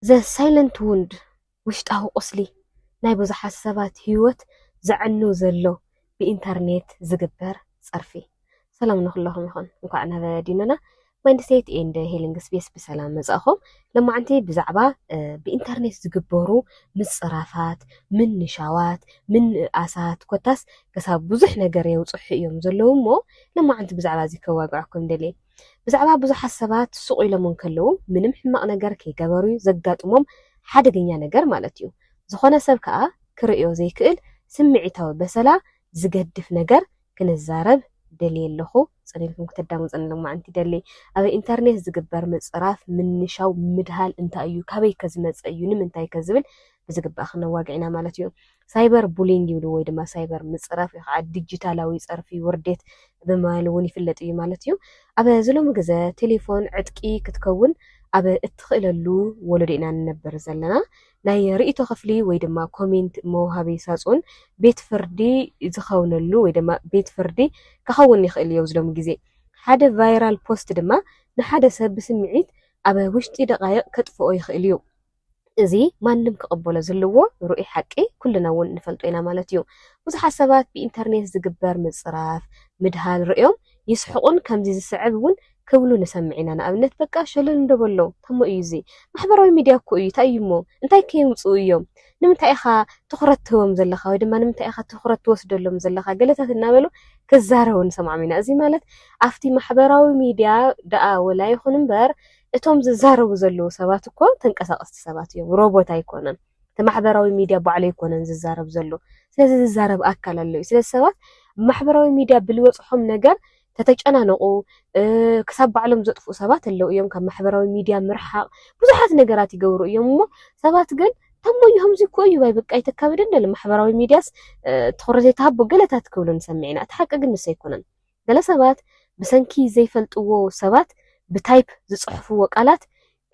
The Silent Wound፣ ውሽጣዊ ቁስሊ፣ ናይ ብዙሓት ሰባት ህይወት ዘዕኑ ዘሎ ብኢንተርኔት ዝግበር ጸርፊ። ሰላም ንኹለኹም ይኹን። እንኳዕ ናብ ዲኖና ማይንድሴት ኤንድ ሂሊንግ ስፔስ ብሰላም መጻእኹም። ለማዕንቲ ብዛዕባ ብኢንተርኔት ዝግበሩ ምጽራፋት፣ ምንሻዋት፣ ምንእኣሳት ኮታስ ክሳብ ብዙሕ ነገር የውጽሑ እዮም ዘለዉ እሞ ለማዕንቲ ብዛዕባ እዚ ከዋግዐኩም ደልየ። ብዛዕባ ብዙሓት ሰባት ሱቕ ኢሎም እንከለዉ ምንም ሕማቕ ነገር ከይገበሩ'ዩ ዘጋጥሞም ሓደገኛ ነገር ማለት'ዩ። ዝኾነ ሰብ ከኣ ክርእዮ ዘይክእል ስምዒታዊ በሰላ ዝገድፍ ነገር ክንዛረብ ደልየ ኣለኹ። ጽን ኢልኩም ክተዳምጹኒ ሎማዕንቲ ይደሊ። ኣብ ኢንተርኔት ዝግበር ምጽራፍ፣ ምንሻው፣ ምድሃል እንታይ'ዩ? ካበይከ ዝመጸ እዩ? ንምንታይከ? ዝብል ብዝግባእ ክነዋግዕ ኢና ማለት'ዩ። ሳይበር ቡሊንግ ይብልዎ ወይ ድማ ሳይበር ምፅራፍ ወይ ከዓ ዲጂታላዊ ፀርፊ ውርዴት ብምባል እውን ይፍለጥ እዩ ማለት እዩ። ኣብ እዚ ሎሚ ግዘ ቴሌፎን ዕጥቂ ክትከውን ኣብ እትኽእለሉ ወለዶ ኢና ንነብር ዘለና። ናይ ርእይቶ ክፍሊ ወይ ድማ ኮሜንት መውሃቢ ሳፁን ቤት ፍርዲ ዝኸውነሉ ወይ ድማ ቤት ፍርዲ ክኸውን ይኽእል እዩ ኣብዚ ሎሚ ግዜ። ሓደ ቫይራል ፖስት ድማ ንሓደ ሰብ ብስምዒት ኣብ ውሽጢ ደቓይቕ ከጥፍኦ ይኽእል እዩ። እዚ ማንም ክቕበሎ ዝልዎ ርኡይ ሓቂ ኩልና እውን ንፈልጦ ኢና ማለት እዩ። ብዙሓት ሰባት ብኢንተርኔት ዝግበር ምጽራፍ፣ ምድሃል፣ ርእዮም ይስሕቑን ከምዚ ዝስዕብ እውን ክብሉ ንሰምዕ ኢና፣ ንኣብነት በቃ ሸለል እንዶ በሎ ተሞ እዩ እዚ ማሕበራዊ ሚድያ እኮ እዩ ታይ እዩ እሞ እንታይ ከየምጽኡ እዮም ንምንታይ ኢኻ ትኹረት ትህቦም ዘለኻ ወይ ድማ ንምንታይ ኢኻ ትኹረት ትወስደሎም ዘለኻ ገለታት እናበሉ ክዛረቡ ንሰምዖም ኢና እዚ ማለት ኣብቲ ማሕበራዊ ሚድያ ደኣ ወላ ይኹን እምበር እቶም ዝዛረቡ ዘለዉ ሰባት እኮ ተንቀሳቀስቲ ሰባት እዮም ሮቦት ኣይኮነን እቲ ማሕበራዊ ሚድያ ባዕሉ ኣይኮነን ዝዛረብ ዘሎ ስለዚ ዝዛረብ ኣካል ኣሎ እዩ ስለዚ ሰባት ማሕበራዊ ሚድያ ብልበፅሖም ነገር ተተጨናነቁ ክሳብ ባዕሎም ዘጥፍኡ ሰባት ኣለዉ እዮም ካብ ማሕበራዊ ሚድያ ምርሓቅ ብዙሓት ነገራት ይገብሩ እዮም እሞ ሰባት ግን ተሞዩ ከምዚ እኮ እዩ ባይ በቃ ይተካብደን ደለ ማሕበራዊ ሚድያስ ትኩረት ዘይተሃቦ ገለታት ክብሉ ንሰምዕ ኢና እቲ ሓቂ ግን ንሱ ኣይኮነን ገለ ሰባት ብሰንኪ ዘይፈልጥዎ ሰባት ብታይፕ ዝጽሕፍዎ ቃላት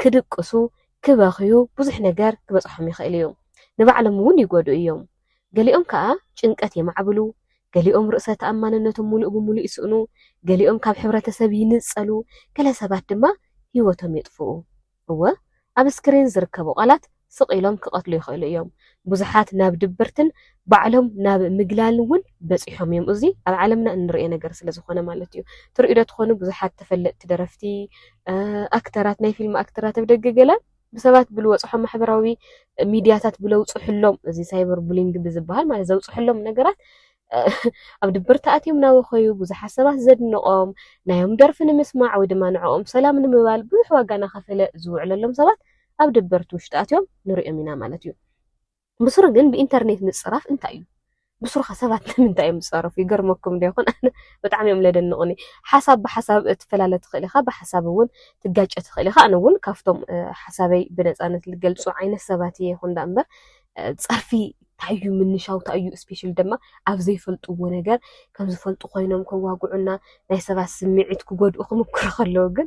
ክድቅሱ፣ ክበኽዩ፣ ብዙሕ ነገር ክበጽሖም ይኽእል እዩ። ንባዕሎም እውን ይጎድኡ እዮም። ገሊኦም ከኣ ጭንቀት የማዕብሉ፣ ገሊኦም ርእሰ ተኣማንነቶም ምሉእ ብምሉእ ይስእኑ፣ ገሊኦም ካብ ሕብረተሰብ ይንጸሉ፣ ገለ ሰባት ድማ ህይወቶም የጥፍኡ። እወ፣ ኣብ ስክሪን ዝርከቡ ቃላት ስቕ ኢሎም ክቐትሉ ይኽእሉ እዮም። ብዙሓት ናብ ድብርትን ባዕሎም ናብ ምግላልን እውን በጺሖም እዮም፣ እዚ ኣብ ዓለምና እንርእዮ ነገር ስለ ዝኾነ ማለት እዩ። ትርእዩዶ ትኾኑ ብዙሓት ተፈለጥቲ ደረፍቲ፣ ኣክተራት፣ ናይ ፊልም ኣክተራት ኣብ ደገ ገለ ብሰባት ብልወጽሖም ማሕበራዊ ሚድያታት ብለውጽሕሎም እዚ ሳይበር ቡሊንግ ብዝበሃል ማለት ዘውጽሕሎም ነገራት ኣብ ድብርት ኣትዮም እናበኸዩ ብዙሓት ሰባት ዘድንቖም ናዮም ደርፊ ንምስማዕ ወይ ድማ ንዕኦም ሰላም ንምባል ብዙሕ ዋጋ እናኸፈለ ዝውዕለሎም ሰባት ኣብ ድብርት ውሽጢ ኣትዮም ንርእዮም ኢና ማለት እዩ። ብስሩ ግን ብኢንተርኔት ምጽራፍ እንታይ እዩ? ብስሩኸ ሰባት ንምንታይ እዮም ዝጸረፉ? ይገርመኩም ዶ ይኾን? ኣነ ብጣዕሚ እዮም ለደንቑኒ። ሓሳብ ብሓሳብ ትፈላለ ትኽእል ኢኻ፣ ብሓሳብ እውን ትጋጨ ትኽእል ኢኻ። ኣነ እውን ካብቶም ሓሳበይ ብነጻነት ልገልጹ ዓይነት ሰባት እየ ይኹን ደኣ እምበር ፀርፊ እንታይ እዩ ምንሻው እንታይ እዩ ስፔሻሊ ድማ ኣብ ዘይፈልጥዎ ነገር ከም ዝፈልጡ ኮይኖም ከዋግዑና ናይ ሰባት ስምዒት ክጎድኡ ክምኩሩ ከለው ግን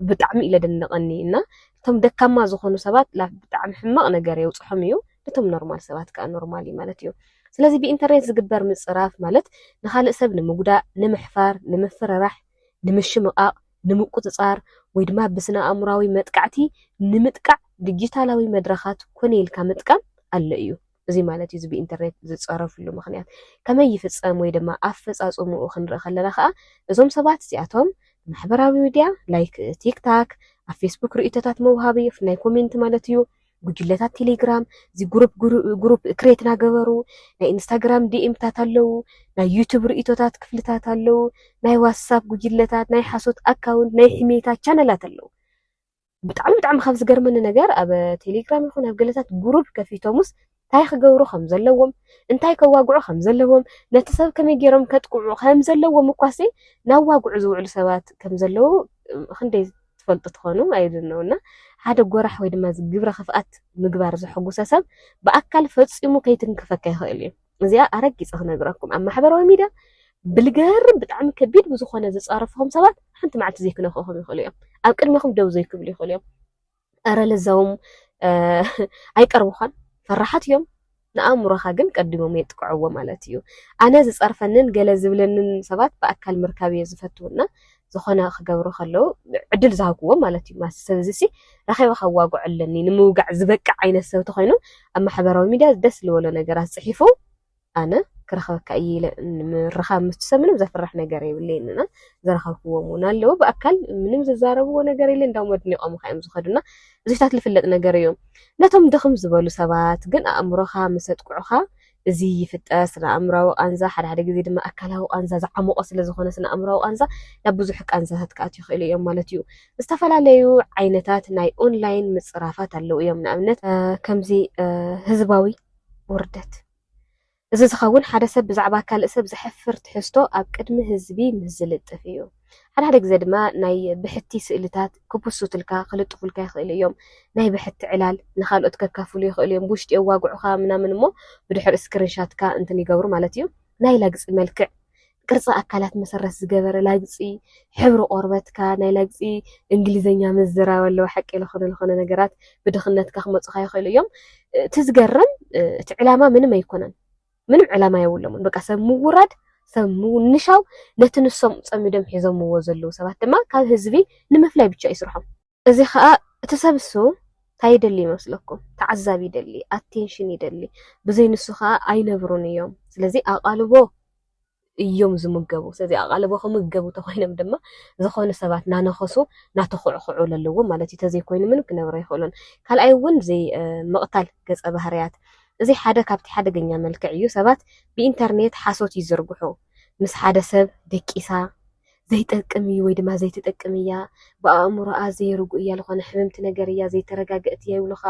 ብጣዕሚ እዩ ለደንቀኒ እና እቶም ደካማ ዝኾኑ ሰባት ብጣዕሚ ሕማቕ ነገር የውፅሖም እዩ እቶም ኖርማል ሰባት ከዓ ኖርማል እዩ ማለት እዩ ስለዚ ብኢንተርኔት ዝግበር ምፅራፍ ማለት ንካልእ ሰብ ንምጉዳእ ንምሕፋር ንምፍርራሕ ንምሽምቓቕ፣ ንምቁጽጻር፣ ወይ ድማ ብስነ-ኣእምሮኣዊ መጥቃዕቲ ንምጥቃዕ ዲጂታላዊ መድረኻት ኮነ ኢልካ ምጥቃም ኣሎ እዩ። እዙይ ማለት እዩ እዚ ብኢንተርኔት ዝጸረፍሉ ምኽንያት። ከመይ ይፍጸም ወይ ድማ ኣፈጻጽምኡ ክንርኢ ከለና ከኣ እዞም ሰባት እዚኣቶም ማሕበራዊ ሚድያ ላይክ ቲክታክ፣ ኣብ ፌስቡክ ርእይቶታት መውሃቢ ናይ ኮሜንት ማለት እዩ፣ ጉጅለታት ቴሌግራም እዚ ጉሩፕ ጉሩፕ ክሬት ናገበሩ ናይ ኢንስታግራም ዲኤምታት ኣለው ናይ ዩቱብ ርእቶታት ክፍልታት ኣለው ናይ ዋትሳፕ ጉጅለታት ናይ ሓሶት ኣካውንት ናይ ሕሜታ ቻነላት ኣለው ብጣዕሚ ብጣዕሚ ካብ ዝገርመኒ ነገር ኣብ ቴሌግራም ይኹን ኣብ ገለታት ጉሩፕ ከፊቶሙስ ታይ ክገብሩ ከም ዘለዎም፣ እንታይ ከዋግዑ ከም ዘለዎም፣ ነቲ ሰብ ከመይ ገይሮም ከጥቅዑ ከም ዘለዎም እኳሲ ናዋግዑ ዝውዕሉ ሰባት ከም ዘለዉ ክንደይ ትፈልጡ ትኾኑ I don't know እና ሓደ ጎራሕ ወይ ድማ ግብረ ክፍኣት ምግባር ዘሐጉሰ ሰብ ብኣካል ፈጺሙ ከይትንክፈካ ይኽእል እዩ። እዚኣ ኣረጊጸ ክነግረኩም ኣብ ማሕበራዊ ሚድያ ብልገርም ብጣዕሚ ከቢድ ብዝኾነ ዝጻረፍኹም ሰባት ሓንቲ መዓልቲ ዘይክነክእኹም ይኽእሉ እዮም። ኣብ ቅድሜኹም ደው ዘይክብሉ ይኽእሉ እዮም። እረ ለዛውም ኣይቀርቡኻን ፈራሓት እዮም ንኣእምሮኻ ግን ቀዲሞም የጥቅዕዎ ማለት እዩ። ኣነ ዝጸርፈንን ገለ ዝብለንን ሰባት ብኣካል ምርካብ እየ ዝፈቱ እና ዝኾነ ክገብሩ ከለው ዕድል ዝሃብክዎ ማለት እዩ። ማስ ሰብዚ ሲ ረኺበ ከዋግዖ ኣለኒ ንምውጋዕ ዝበቅዕ ዓይነት ሰብ ተኾይኑ ኣብ ማሕበራዊ ሚድያ ደስ ዝበሎ ነገራት ጽሒፉ ኣነ ክረኽበካ እየ ኢለ ምርኻብ ምስትሰ ምንም ዘፍርሕ ነገር የብለይን እና ዘረኸብክዎም እውን ኣለዉ ብኣካል ምንም ዝዛረብዎ ነገር የለ እንዳውም ኣድኒቖም ካ እዮም ዝኸዱና እዚታት ዝፍለጥ ነገር እዮም ነቶም ድኽም ዝበሉ ሰባት ግን ኣእምሮኻ ምስ ኣጥቅዑኻ እዚ ይፍጠር ስነ ኣእምራዊ ቃንዛ ሓደ ሓደ ግዜ ድማ ኣካላዊ ቃንዛ ዝዓሞቐ ስለ ዝኾነ ስነ ኣእምራዊ ቃንዛ ናብ ብዙሕ ቃንዛታት ክኣት ይኽእሉ እዮም ማለት እዩ ዝተፈላለዩ ዓይነታት ናይ ኦንላይን ምፅራፋት ኣለዉ እዮም ንኣብነት ከምዚ ህዝባዊ ውርደት! እዚ ዝኸውን ሓደ ሰብ ብዛዕባ ካልእ ሰብ ዘሕፍር ትሕዝቶ ኣብ ቅድሚ ህዝቢ ምስ ዝልጥፍ እዩ። ሓደ ሓደ ግዘ ድማ ናይ ብሕቲ ስእልታት ክፕሱትልካ፣ ክልጥፉልካ፣ ይኽእሉ እዮም። ናይ ብሕቲ ዕላል ንኻልኦት ከካፍሉ ይኽእሉ እዮም። ብውሽጢ የዋግዑኻ ምናምን እሞ ብድሕሪኡ ስክሪንሻትካ እንትን ይገብሩ ማለት እዩ። ናይ ላግጺ መልክዕ ቅርጺ ኣካላት መሰረት ዝገበረ ላግጺ፣ ሕብሪ ቆርበትካ፣ ናይ ላግጺ እንግሊዘኛ ምዝራብ ኣለዎ ሓቂ ልኾነ ልኾነ ነገራት ብድኽነትካ ክመጹኻ ይኽእሉ እዮም እቲ ዝገርም እቲ ዕላማ ምንም ኣይኮነን ምንም ዕላማ የብሎምን በቃ ሰብ ምውራድ ሰብ ምውንሻው ነቲ ንሶም ጸሚዶም ሒዞምዎ ዘለዉ ሰባት ድማ ካብ ህዝቢ ንምፍላይ ብቻ እዩ ስርሖም። እዚ ከኣ እቲ ሰብ እሱ ታይ ይደሊ ይመስለኩም ተዓዛቢ ይደሊ ኣቴንሽን ይደሊ ብዘይ ንሱ ከኣ ኣይነብሩን እዮም ስለዚ ኣቓልቦ እዮም ዝምገቡ ስለዚ ኣቓልቦ ክምገቡ ተኾይኖም ድማ ዝኾኑ ሰባት ናነኸሱ ናተኹዕኹዑ ለለዎም ማለት እዩ ተዘይኮይኑ ምንም ክነብሩ ኣይኽእሉን ካልኣይ እውን ዘይ ምቕታል ገጸ ባህርያት እዚ ሓደ ካብቲ ሓደገኛ መልክዕ እዩ ሰባት ብኢንተርኔት ሓሶት ይዝርግሑ ምስ ሓደ ሰብ ደቂሳ ዘይጠቅም እዩ ወይ ድማ ዘይትጠቅም እያ ብኣእምሮኣ ዘይርጉእ እያ ዝኾነ ሕምምቲ ነገር እያ ዘይተረጋገእት እያ ይብሉኻ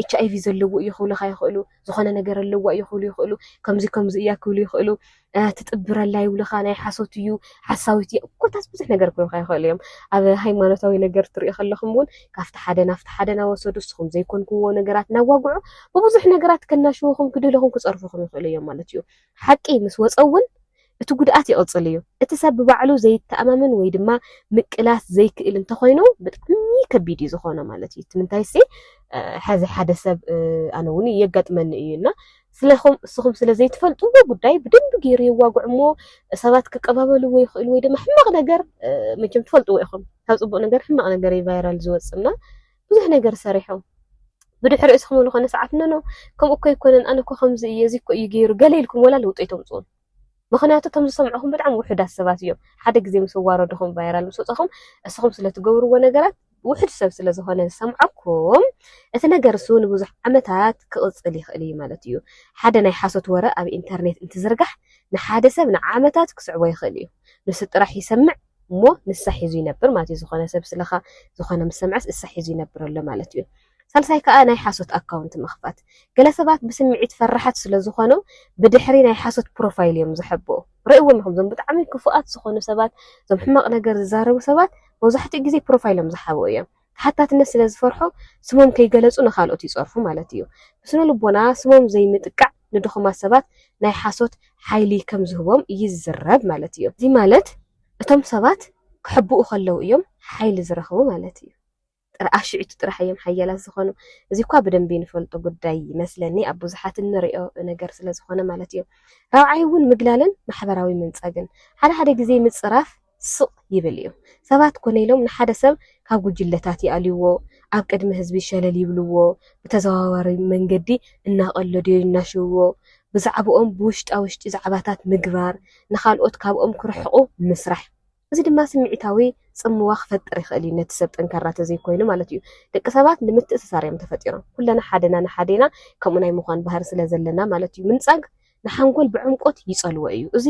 ኤች ኣይቪ ዘለዎ እዩ ክብሉኻ ይኽእሉ ዝኾነ ነገር ኣለዋ እዩ ክብሉ ይኽእሉ ከምዚ ከምዚ እያ ክብሉ ይኽእሉ ትጥብረላ ይብሉኻ ናይ ሓሶት እዩ ሓሳዊት እያ ኮታስ ብዙሕ ነገር ክብሉኻ ይኽእሉ እዮም ኣብ ሃይማኖታዊ ነገር ትሪኦ ከለኹም እውን ካብቲ ሓደ ናብቲ ሓደ ናወሰዱ ንስኹም ዘይኮንኩምዎ ነገራት ናዋግዑ ብብዙሕ ነገራት ከናሽውኹም ክድህልኹም ክፀርፉኹም ይኽእሉ እዮም ማለት እዩ ሓቂ ምስ ወጸ እውን እቲ ጉድኣት ይቕጽል እዩ። እቲ ሰብ ብባዕሉ ዘይተኣማመን ወይ ድማ ምቅላስ ዘይክእል እንተኾይኑ ብጣዕሚ ከቢድ እዩ ዝኾኖ ማለት እዩ። እቲ ምንታይሲ ሐዚ ሓደ ሰብ ኣነ እውን የጋጥመኒ እዩ እና ስለኹም እስኹም ስለ ዘይትፈልጥዎ ጉዳይ ብደንቢ ገይሩ የዋግዕ እሞ ሰባት ክቀባበልዎ ይኽእሉ ወይ ድማ ሕማቕ ነገር መቸም ትፈልጥዎ ኢኹም ካብ ጽቡቕ ነገር ሕማቕ ነገር እዩ ቫይራል ዝወጽእ እና ብዙሕ ነገር ሰሪሖም ብድሕሪኡ እስኹም እውን ዝኾነ ሰዓት ኖኖ ከምኡ እኮ ኣይኮነን ኣነ እኮ ከምዚ እየ እዚ እኮ እዩ ገይሩ ገለ ኢልኩም ወላ ለውጢ ኣይተምፅኡን ምክንያቱ እቶም ዝሰምዑኹም ብጣዕሚ ውሑዳት ሰባት እዮም ሓደ ግዜ ምስ ዋረድኹም ቫይራል ምስ ወፀኹም እስኹም ስለትገብርዎ ነገራት ውሑድ ሰብ ስለዝኾነ ዝሰምዐኩም እቲ ነገር እሱ ንብዙሕ ዓመታት ክቕፅል ይኽእል እዩ ማለት እዩ ሓደ ናይ ሓሶት ወረ ኣብ ኢንተርኔት እንትዝርጋሕ ንሓደ ሰብ ንዓመታት ክስዕቦ ይኽእል እዩ ንሱ ጥራሕ ይሰምዕ እሞ ንሳ ሒዙ ይነብር ማለት እዩ ዝኾነ ሰብ ስለኻ ዝኾነ ምስ ሰምዐስ እሳ ሒዙ ይነብር ኣሎ ማለት እዩ። ሳልሳይ ከኣ ናይ ሓሶት ኣካውንት ምኽፋት ገለ ሰባት ብስምዒት ፈራሓት ስለ ዝኾኑ ብድሕሪ ናይ ሓሶት ፕሮፋይል እዮም ዝሕብኡ ርእዎም ኢኹም እዞም ብጣዕሚ ክፉኣት ዝኾኑ ሰባት እዞም ሕማቕ ነገር ዝዛረቡ ሰባት መብዛሕትኡ ግዜ ፕሮፋይሎም ዝሓብኡ እዮም። ተሓታትነት ስለ ዝፈርሑ ስሞም ከይገለጹ ንኻልኦት ይጸርፉ ማለት ኢዩ። ብስነልቦና ስሞም ዘይምጥቃዕ ንድኹማት ሰባት ናይ ሓሶት ሓይሊ ከም ዝህቦም ይዝረብ ማለት ኢዩ። እዚ ማለት እቶም ሰባት ክሕብኡ ከለዉ ኢዮም ሓይሊ ዝረኽቡ ማለት ኢዩ። ጥራኣ ሽዕቱ ጥራሕ ኢዮም ሓያላት ዝኾኑ። እዚ እኳ ብደንቢ ንፈልጦ ጉዳይ ይመስለኒ ኣብ ብዙሓት እንርእዮ ነገር ስለ ዝኾነ ማለት ኢዩ። ራብዓይ እውን ምግላልን ማሕበራዊ ምንጻግን። ሓደ ሓደ ግዜ ምጽራፍ። ስቕ ይብል እዩ። ሰባት ኮነ ኢሎም ንሓደ ሰብ ካብ ጉጅለታት ይኣልዩዎ፣ ኣብ ቅድሚ ህዝቢ ሸለል ይብሉዎ፣ ብተዘዋዋሪ መንገዲ እናቐለዱዮ ይናሽውዎ፣ ብዛዕብኦም ብውሽጣ ውሽጢ ዛዕባታት ምግባር፣ ንኻልኦት ካብኦም ክርሕቑ ምስራሕ። እዚ ድማ ስምዒታዊ ጽምዋ ክፈጥር ይኽእል እዩ፣ ነቲ ሰብ ጠንካራ ተዘይኮይኑ ማለት እዩ። ደቂ ሰባት ንምትእስሳር እዮም ተፈጢሮም፣ ኩለና ሓደና ንሓዴና ከምኡ ናይ ምዃን ባህሪ ስለዘለና ማለት እዩ። ምንጻግ ንሓንጎል ብዕምቆት ይጸልዎ እዩ፣ እዚ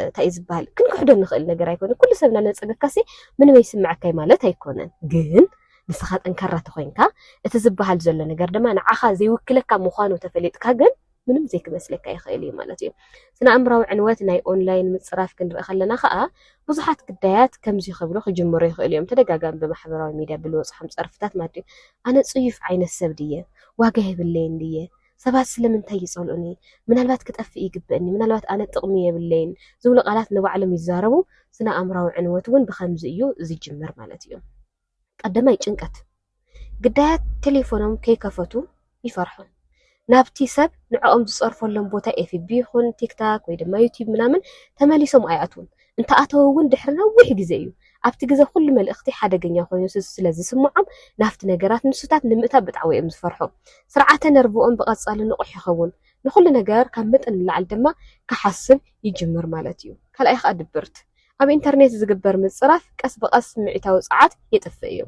እንታይ እዩ ዝበሃል ክንክሕዶ ንኽእል ነገር ኣይኮነን። ኩሉ ሰብ እናነጸገካሲ ምንም ኣይስምዓካይ ማለት ኣይኮነን። ግን ንስኻ ጠንካራ ተኾይንካ እቲ ዝበሃል ዘሎ ነገር ድማ ንዓኻ ዘይውክለካ ምዃኑ ተፈሊጥካ ግን ምንም ዘይክመስለካ ይኽእል እዩ ማለት እዩ። ስነ ኣእምራዊ ዕንወት ናይ ኦንላይን ምጽራፍ ክንርኢ ከለና ከዓ ብዙሓት ግዳያት ከምዚ ክብሉ ክጅምሩ ይኽእሉ እዮም። ተደጋጋሚ ብማሕበራዊ ሚድያ ብልወጽሖም ጸርፍታት ማለት እዩ። ኣነ ጽዩፍ ዓይነት ሰብ ድየ? ዋጋ የብለይን ድየ? ሰባት ስለምንታይ ይጸልኡኒ? ምናልባት ክጠፍእ ይግበእኒ? ምናልባት ኣነ ጥቕሚ የብለይን? ዝብሉ ቃላት ንባዕሎም ይዛረቡ። ስነ-ኣእምሮኣዊ ዕንወት እውን ብኸምዚ እዩ ዝጅምር ማለት እዩ። ቀዳማይ፣ ጭንቀት። ግዳያት ቴሌፎኖም ከይከፈቱ ይፈርሑ። ናብቲ ሰብ ንዕኦም ዝጸርፈሎም ቦታ ኤፍቢ ይኹን ቲክታክ ወይ ድማ ዩትዩብ ምናምን ተመሊሶም ኣይኣትዉን። እንተኣተወ እውን ድሕሪ ነዊሕ ግዜ እዩ። ኣብቲ ግዘ ኩሉ መልእኽቲ ሓደገኛ ኮይኑ ስለዝስምዖም ናብቲ ነገራት ንሱታት ንምእታው ብጣዕዊ እዮም ዝፈርሑ። ስርዓተ ነርቭኦም ብቐፃሊ ንቑሕ ይኸውን። ንኹሉ ነገር ካብ መጠን ንላዕሊ ድማ ክሓስብ ይጅምር ማለት እዩ። ካልኣይ ከዓ ድብርት። ኣብ ኢንተርኔት ዝግበር ምፅራፍ ቀስ ብቐስ ስምዒታዊ ፀዓት የጥፍእ እዩ።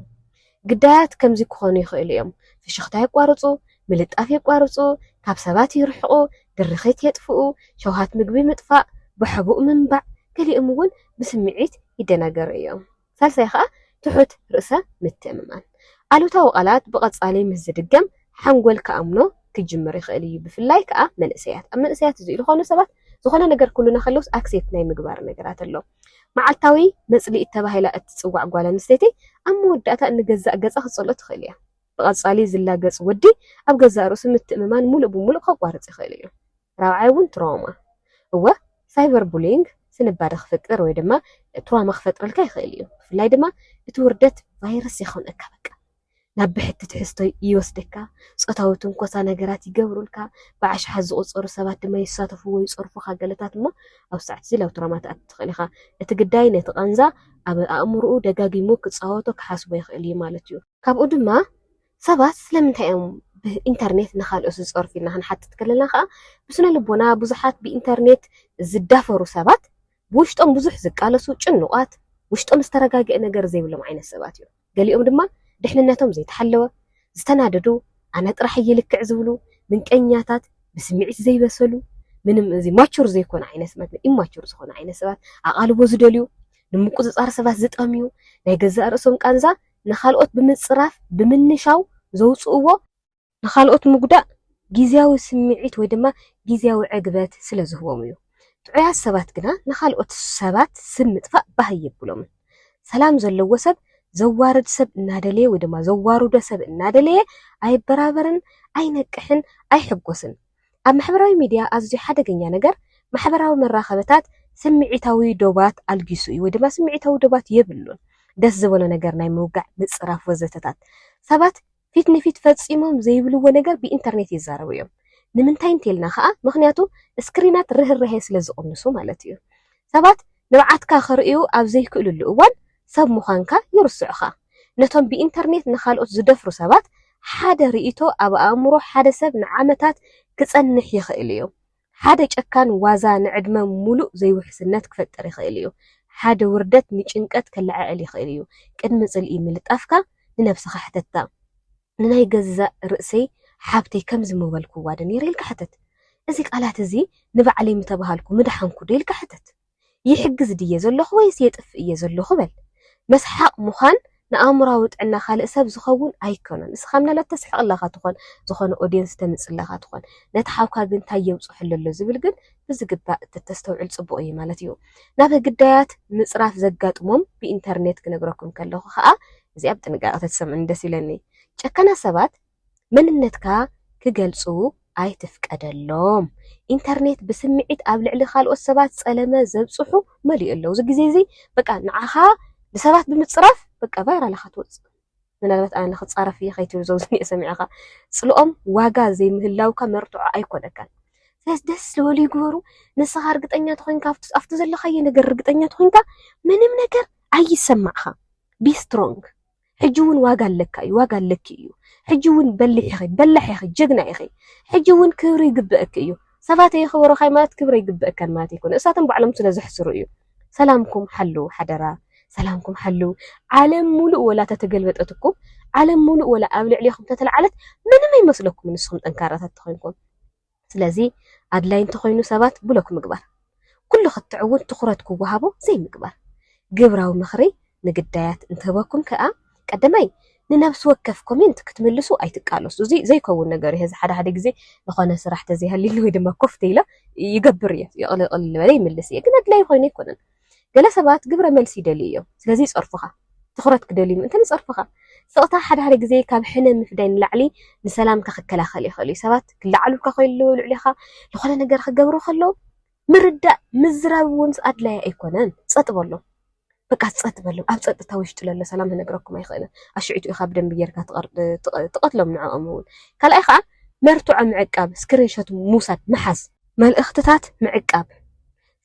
ግዳያት ከምዚ ክኾኑ ይኽእሉ እዮም፣ ፍሽኽታ የቋርጹ፣ ምልጣፍ የቋርጹ፣ ካብ ሰባት ይርሕቑ፣ ድርኺት የጥፍኡ፣ ሸውሃት ምግቢ ምጥፋእ፣ ብሕቡእ ምንባዕ፣ ገሊኦም እውን ብስምዒት ይደናገሩ እዮም። ሳልሳይ ከኣ ትሑት ርእሰ ምትእምማን። ኣሉታዊ ቃላት ብቐጻሊ ምስ ዝድገም ሓንጎል ክኣምኖ ክጅምር ይኽእል እዩ፣ ብፍላይ ከኣ መንእሰያት። ኣብ መንእሰያት እዚ ኢሉ ኾነ ሰባት ዝኾነ ነገር ክብሉና ከለውስ ኣክሴፕት ናይ ምግባር ነገራት ኣሎ። መዓልታዊ መጽልኢት ተባሂላ እትጽዋዕ ጓል ኣንስተይቲ ኣብ መወዳእታ ንገዛእ ገጻ ክትጸልኦ ትኽእል እያ። ብቐጻሊ ዝላገጽ ወዲ ኣብ ገዛእ ርእሱ ምትእምማን ምሉእ ብምሉእ ከቋርጽ ይኽእል እዩ። ራብዓይ እውን ትራውማ። እወ፣ ሳይበር ቡሊይንግ ስንባደ ክፍጥር ወይ ድማ ትራውማ ክፈጥረልካ ይኽእል እዩ፣ ብፍላይ ድማ እቲ ውርደት ቫይረስ የኸንኣካ በቃ። ናብ ብሕቲ ትሕዝቶ ይወስደካ፣ ጾታዊ ትንኮሳ ነገራት ይገብሩልካ፣ ብኣሽሓት ዝቑጸሩ ሰባት ድማ ይሳተፉ ወይ ይጸርፉኻ፣ ገለታት እሞ ኣብ ሳዕት እዚ ናብ ትሮማ ትኣቲ ትኽእል ኢኻ። እቲ ግዳይ ነቲ ቃንዛ ኣብ ኣእምሮኡ ደጋጊሙ ክጻወቶ ክሓስቦ ይኽእል እዩ ማለት እዩ። ካብኡ ድማ ሰባት ስለምንታይ እዮም ብኢንተርኔት ንኻልኦት ዝጸርፉ ኢልና ክንሓትት ከለና ከኣ ብስነ-ልቦና ብዙሓት ብኢንተርኔት ዝዳፈሩ ሰባት ብውሽጦም ብዙሕ ዝቃለሱ፣ ጭኑቓት፣ ውሽጦም ዝተረጋግኤ ነገር ዘይብሎም ዓይነት ሰባት እዮም። ገሊኦም ድማ ድሕንነቶም ዘይተሓለወ፣ ዝተናደዱ፣ ኣነ ጥራሕ እየ ልክዕ ዝብሉ፣ ምንቀኛታት፣ ብስምዒት ዘይበሰሉ፣ ምንም እዚ ማቹር ዘይኮነ ዓይነት ማለት ኢማቹር ዝኾነ ዓይነት ሰባት፣ ኣቓልቦ ዝደልዩ፣ ንምቁጽጻር ሰባት ዝጠምዩ፣ ናይ ገዛእ ርእሶም ቃንዛ ንኻልኦት ብምጽራፍ ብምንሻው ዘውጽእዎ ንኻልኦት ምጕዳእ ግዝያዊ ስምዒት ወይ ድማ ግዝያዊ ዕግበት ስለ ዝህቦም እዩ። ጥዑያት ሰባት ግና ንኻልኦት ሰባት ስም ምጥፋእ ባህ ኣየብሎምን። ሰላም ዘለዎ ሰብ ዘዋርድ ሰብ እናደለየ ወይ ድማ ዘዋርዶ ሰብ እናደለየ ኣይበራበርን፣ ኣይነቅሕን፣ ኣይሕጐስን። ኣብ ማሕበራዊ ሚድያ ኣዝዩ ሓደገኛ ነገር ማሕበራዊ መራኸብታት ስምዒታዊ ዶባት ኣልጊሱ እዩ ወይ ድማ ስምዒታዊ ዶባት የብሉን። ደስ ዝበሎ ነገር ናይ ምውጋዕ፣ ምጽራፍ ወዘተታት ሰባት ፊት ንፊት ፈጺሞም ዘይብልዎ ነገር ብኢንተርኔት ይዛረቡ እዮም። ንምንታይ እንተይልና ከኣ ምኽንያቱ ስክሪናት ርህራሄ ስለ ዝቕንሱ ማለት እዩ። ሰባት ንብዓትካ ክርእዩ ኣብ ዘይክእልሉ እዋን ሰብ ምዃንካ ይርስዑኻ። ነቶም ብኢንተርኔት ንኻልኦት ዝደፍሩ ሰባት ሓደ ርእይቶ ኣብ ኣእምሮ ሓደ ሰብ ንዓመታት ክጸንሕ ይኽእል እዩ። ሓደ ጨካን ዋዛ ንዕድመ ምሉእ ዘይውሕስነት ክፈጥር ይኽእል እዩ። ሓደ ውርደት ንጭንቀት ከለዓዕል ይኽእል እዩ። ቅድሚ ጽልኢ ምልጣፍካ ንነብስኻ ሕተታ፣ ንናይ ገዛእ ርእሰይ ሓብተይ ከምዚ ምበልክዋዶ ነይረ? ኢልካ ሕተት። እዚ ቃላት እዚ ንባዕለይ ምተባህልኩ ምደሓንኩዶ? ኢልካ ሕተት። ይሕግዝ ድየ ዘለኹ ወይስ የጥፍእ እየ ዘለኹ በል። መስሓቕ ምዃን ንኣእምሮኣዊ ጥዕና ካልእ ሰብ ዝኸውን ኣይከኖን። ንስኻ ምናልባት ተስሕቕ ኣለኻ ትኾን፣ ዝኾነ ኦድየንስ ተምጽእ ኣለኻ ትኾን። ነቲ ሓውካ ግን ታይ የብጽሑሉ ኣሎ ዝብል ግን ብዝግባእ እተተስተውዕል ጽቡቕ እየ ማለት እዩ። ናብ ግዳያት ምጽራፍ ዘጋጥሞም ብኢንተርኔት ክነግረኩም ከለኹ ከኣ እዚኣ ብጥንቃቐ ተትሰምዑኒ ደስ ኢለኒ። ጨካናት ሰባት! መንነትካ ክገልጹ ኣይትፍቀደሎም። ኢንተርኔት ብስምዒት ኣብ ልዕሊ ካልኦት ሰባት ጸለመ ዘብጽሑ መሊኡ ኣሎ። እዚ ግዜ እዚ በቃ ንዓኻ ንሰባት ብምጽራፍ በቃ ቫይራል ኢኻ ትወጽእ። ምናልባት ኣነ ክጻረፍ እየ ከይትብል ዘውዝኒኤ ሰሚዕኻ ጽልኦም ዋጋ ዘይምህላውካ መርትዖ ኣይኮነካን። ስለዚ ደስ ዝበሉ ይግበሩ። ንስኻ እርግጠኛ ተኾይንካ ኣብቲ ዘለኻዮ ነገር እርግጠኛ ተኾይንካ ምንም ነገር ኣይሰማዕኻ ቢ ስትሮንግ ሕጂ ውን ዋጋ ኣለካ እዩ ዋጋ ኣለኪ እዩ ሕጂ ውን በሊሕ ኢኺ በላሕ ኢኺ ጀግና ኢኺ ሕጂ ውን ክብሪ ይግበእኪ እዩ ሰባት ኣየኽበሩኻይ ማለት ክብሪ ኣይግበእካን ማለት ኣይኮነ እሳቶም ባዕሎም ስለ ዘሕስሩ እዩ ሰላምኩም ሓልው ሓደራ ሰላምኩም ሓልው ዓለም ሙሉእ ወላ ተተገልበጠትኩም ዓለም ሙሉእ ወላ ኣብ ልዕሌኹም ተተልዓለት ምንም ኣይመስለኩምን ንስኹም ጠንካራታት ተኾይንኩም ስለዚ ኣድላይ እንተኾይኑ ሰባት ብሎክ ምግባር። ኩሉ ክትዕ እውን ትኹረት ክወሃቦ ዘይምግባር። ግብራዊ ምኽሪ ንግዳያት እንትህበኩም ከኣ ቀደማይ ንነብሲ ወከፍ ኮሜንት ክትምልሱ ኣይትቃለሱ። እዚ ዘይከውን ነገር እዩ። ሕዚ ሓደ ሓደ ግዜ ዝኾነ ስራሕ ተዘይሃልዩኒ ወይ ድማ ኮፍ ተይለ ይገብር እየ። ይቕልል ቅልል በለ ይምልስ እየ። ግን ኣድላይ ኮይኑ ኣይኮነን። ገለ ሰባት ግብረ መልሲ ይደልዩ እዮም፣ ስለዚ ይጸርፉኻ። ትኹረት ክደልዩ ምእንታን ይጸርፉኻ። ስቕታ ሓድሓደ ግዜ ካብ ሕነ ምፍዳይ ንላዕሊ ንሰላምካ ክከላኸል ይኽእል እዩ። ሰባት ክለዓሉልካ ከለዉ፣ ልዕሌኻ ዝኾነ ነገር ክገብሩ ከለዉ ምርዳእ፣ ምዝራብ እውን ኣድላዪ ኣይኮነን። ጸጥ በሎ። በቃ ጸጥ በሎም። ኣብ ጸጥታ ውሽጢ ለሎ ሰላም ክነግረኩም ኣይኽእልን። ኣሽዒቱ ኢኻ ብደንቢ ጌርካ ትቐትሎም ንዕኦም እውን። ካልኣይ ከኣ መርትዖ ምዕቃብ፣ ስክሪንሾት ምውሳድ፣ ምሓዝ። መልእኽትታት ምዕቃብ፣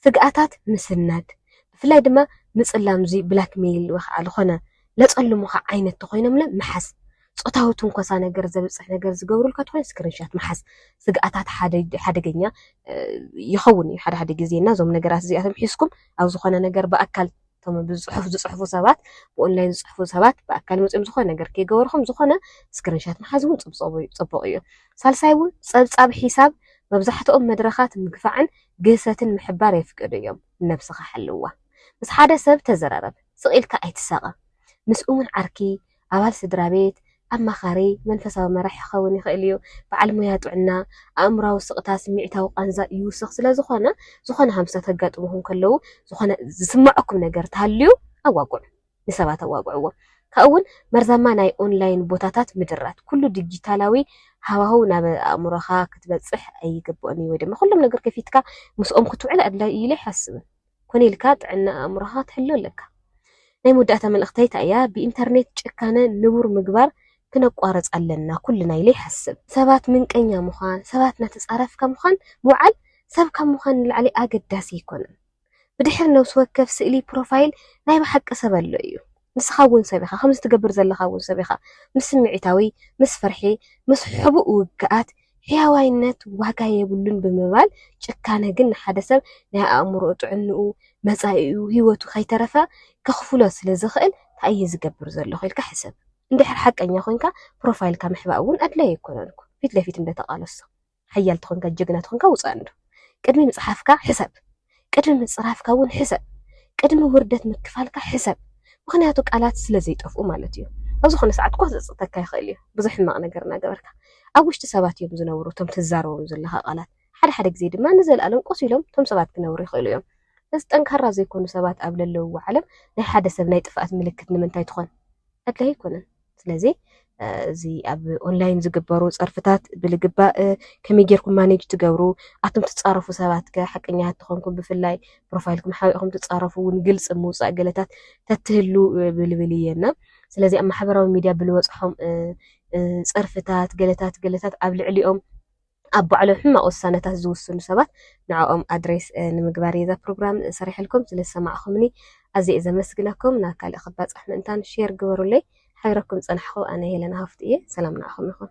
ስግኣታት ምስናድ፣ ብፍላይ ድማ ምጽላም እዚ ብላክመይል ወይ ኸኣ ልኾነ ለጸልሙኻ ዓይነት ተኾይኖምለ ምሓዝ። ጾታዊ ትንኮሳ ነገር ዘብጽሕ ነገር ዝገብሩልካ ተኾይኑ ስክሪንሻት ምሓዝ ስግኣታት ሓደ ሓደገኛ ይኸውን እዩ ሓደ ሓደ ግዜ እና እዞም ነገራት እዚኣቶም ሒዝኩም ኣብ ዝኾነ ነገር ብኣካል እቶም ብዝፅሑፍ ዝፅሕፉ ሰባት ብኦንላይን ዝፅሕፉ ሰባት ብኣካል መፅዮም ዝኾነ ነገር ከይገበርኹም ዝኾነ ስክሪንሻት ምሓዝ እውን ፅቡቕ እዩ። ሳልሳይ እውን ፀብፃብ ሒሳብ መብዛሕትኦም መድረኻት ምግፋዕን ግህሰትን ምሕባር የፍቅዱ እዮም። ንነብስኻ ሓልዋ። ምስ ሓደ ሰብ ተዘራረብ። ስቕ ኢልካ ኣይትሳቐ። ምስ እሙን ዓርኪ፣ ኣባል ስድራ ቤት፣ ኣማኻሪ፣ መንፈሳዊ መራሒ ክኸውን ይኽእል እዩ። በዓል ሞያ ጥዕና፣ ኣእምሮኣዊ ስቕታ ስምዒታዊ ቃንዛ ይውስኽ ስለ ዝዀነ፣ ዝዀነ ሃምሳ ከጋጥሙኹም ከለዉ ዝዀነ ዝስምዓኩም ነገር እንተሃልዩ ኣዋግዑ። ንሰባት ኣዋግዕዎም። ካብኡ'ውን መርዛማ ናይ ኦንላይን ቦታታት ምድራት። ኵሉ ዲጂታላዊ ሃዋህው ናብ ኣእምሮኻ ክትበጽሕ ኣይግብኦን እዩ ወይ ድማ ኵሎም ነገር ከፊትካ ምስኦም ክትውዕል ኣድላዪ እዩ ኢለ ኣይሓስብን። ኮነ ኢልካ ጥዕና ኣእምሮኻ ክትሕሉ ኣለካ። ናይ መወዳእታ መልእኽተይ እታ እያ፣ ብኢንተርኔት ጭካነ ንቡር ምግባር ክነቋርጽ ኣለና ኩልና ኢለ ይሓስብ። ሰባት ምንቀኛ ምዃን፣ ሰባት እናተጻረፍካ ምዃን ምውዓል ሰብ ካብ ምዃን ንላዕሊ ኣገዳሲ ኣይኮነን። ብድሕሪ ነብሲ ወከፍ ስእሊ ፕሮፋይል ናይ ብሓቂ ሰብ ኣሎ እዩ። ንስኻ እውን ሰብ ኢኻ፣ ከምዚ ትገብር ዘለኻ እውን ሰብ ኢኻ። ምስ ስምዒታዊ፣ ምስ ፍርሒ፣ ምስ ሕቡእ ውግኣት፣ ሕያዋይነት ዋጋ የብሉን ብምባል፣ ጭካነ ግን ንሓደ ሰብ ናይ ኣእምሮኡ ጥዕንኡ፣ መጻኢኡ፣ ህይወቱ ከይተረፈ ከኽፍሎ ስለ ዝኽእል ታይ እየ ዝገብር ዘለኹ ኢልካ ሕሰብ። እንድሕር ሓቀኛ ኮይንካ ፕሮፋይልካ ምሕባእ እውን ኣድላዪ ኣይኮነን እኮ ፊት ለፊት እንደ ተቓለስቶ። ሓያል ተኾንካ ጅግና ተኾንካ ውጻእ እንዶ ቅድሚ ምጽሓፍካ ሕሰብ ቅድሚ ምጽራፍካ እውን ሕሰብ ቅድሚ ውርደት ምክፋልካ ሕሰብ ምኽንያቱ ቃላት ስለ ዘይጠፍኡ ማለት እዩ ኣብ ዝኾነ ሰዓት እኳ ክጸጽተካ ይኽእል እዩ ብዙሕ ሕማቕ ነገር እናገበርካ ኣብ ውሽጢ ሰባት እዮም ዝነብሩ እቶም ትዛረቦም ዘለኻ ቃላት ሓደ ሓደ ግዜ ድማ ንዘለኣለም ቆስ ኢሎም እቶም ሰባት ክነብሩ ይኽእሉ እዮም እዚ ጠንካራ ዘይኮኑ ሰባት ኣብ ለለውዎ ዓለም ናይ ሓደ ሰብ ናይ ጥፍኣት ምልክት ንምንታይ ትኾን ኣድላይ ኣይኮነን ስለዚ እዚ ኣብ ኦንላይን ዝግበሩ ፀርፍታት ብልግባእ ከመይ ጌርኩም ማኔጅ ትገብሩ ኣቶም ትፃረፉ ሰባት ከ ሓቀኛ ተኾንኩም ብፍላይ ፕሮፋይልኩም ሓቢእኹም ትፃረፉ እውን ግልፂ ምውፃእ ገለታት ተትህሉ ብልብል እየና ስለዚ ኣብ ማሕበራዊ ሚዲያ ብልበፅሖም ፀርፍታት ገለታት ገለታት ኣብ ልዕሊኦም ኣብ ባዕሎም ሕማቅ ውሳነታት ዝውስኑ ሰባት ንዕኦም ኣድሬስ ንምግባር እየ እዛ ፕሮግራም ሰሪሐልኩም ስለ ዝሰማዕኹምኒ ኣዝየ እየ ዘመስግነኩም ናብ ካልእ ክባጻሕ ምእንታን ሼር ግበሩለይ ሓቢረኩም ዝጸናሕኹ ኣነ ሄለን ሃፍቱ እየ ሰላም ንዓኹም ይኹን።